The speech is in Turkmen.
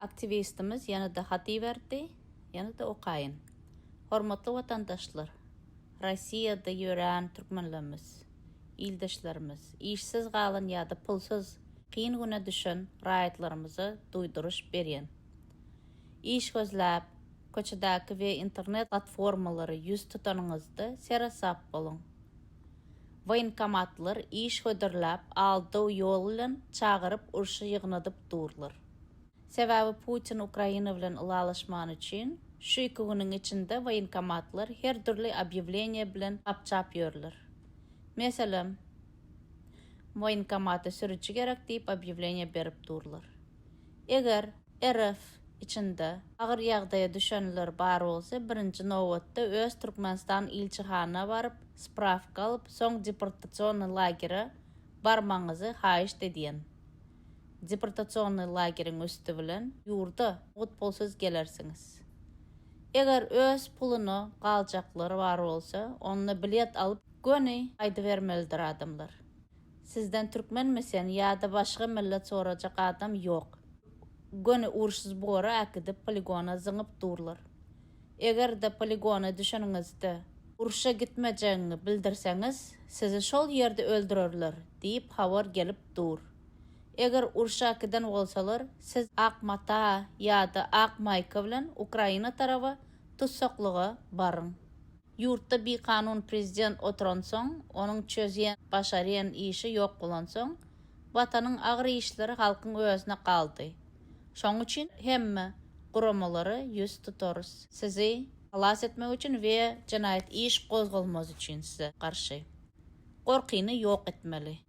Aktiwistimiz ýene-de hat iberdi, ýene-de okaýyn. Hormatly watandaşlar, Rossiýada ýörän türkmenlerimiz, ildeşlerimiz, işsiz galan ýa-da pulsuz, kyn güne düşen raýatlarymyza duýduryş berýän. Iş gözläp, köçedäki we internet platformalara ýüz tutanyňyzda seresap boluň. Woýenkomatlar iş hödürläp, aldaw ýoly bilen çagyryp urşa ýygnadyp durlar. Sebäbi Putin Ukraina bilen ylalaşman üçin şu iki günüň içinde woýenkomatlar her dürli obýewleniýe bilen gapjap ýörler. Meselem, Woýenkomata sürüji gerek diýip obýewleniýe berip durlar. Eger RF içinde agyr ýagdaýa düşenler bar bolsa birinji nobatda öz Türkmenistan ilçihana baryp sprawka alyp soň deportasionny lagere barmagyňyzy haýyşt edýän. deportasionnyý lageriň üsti bilen ýurda gutpulsyz gelersiňiz. Eger öz puluna galjaklary bar bolsa, onda bilet alyp, göni gaýdybermelidir adamlar. Sizden türkmenmi sen ýa-da başga millet sorajak adam ýok. Göni uruş zbory äkidip poligona zyňyp durlar. Eger-de poligona düşeniňizde urşa gitmejegiňi bildirseňiz, sizi şol ýerde öldürerler diýip habar gelip dur. Eger urşa giden bolsalar, siz ak mata ýa-da ak maýka bilen Ukraina taraba tussaklyga baryň. Ýurtda bikanun prezident oturansoň, onuň çözýän, başarýan işi ýok bolansoň, Watanyň agyr işleri halkyň özüne galdy. Şoň üçin hemme guramalara ýüz tutarys. Sizi halas etmek üçin we jenaýat iş gozgalmaz üçin size garşy. Gorkyny ýok etmeli.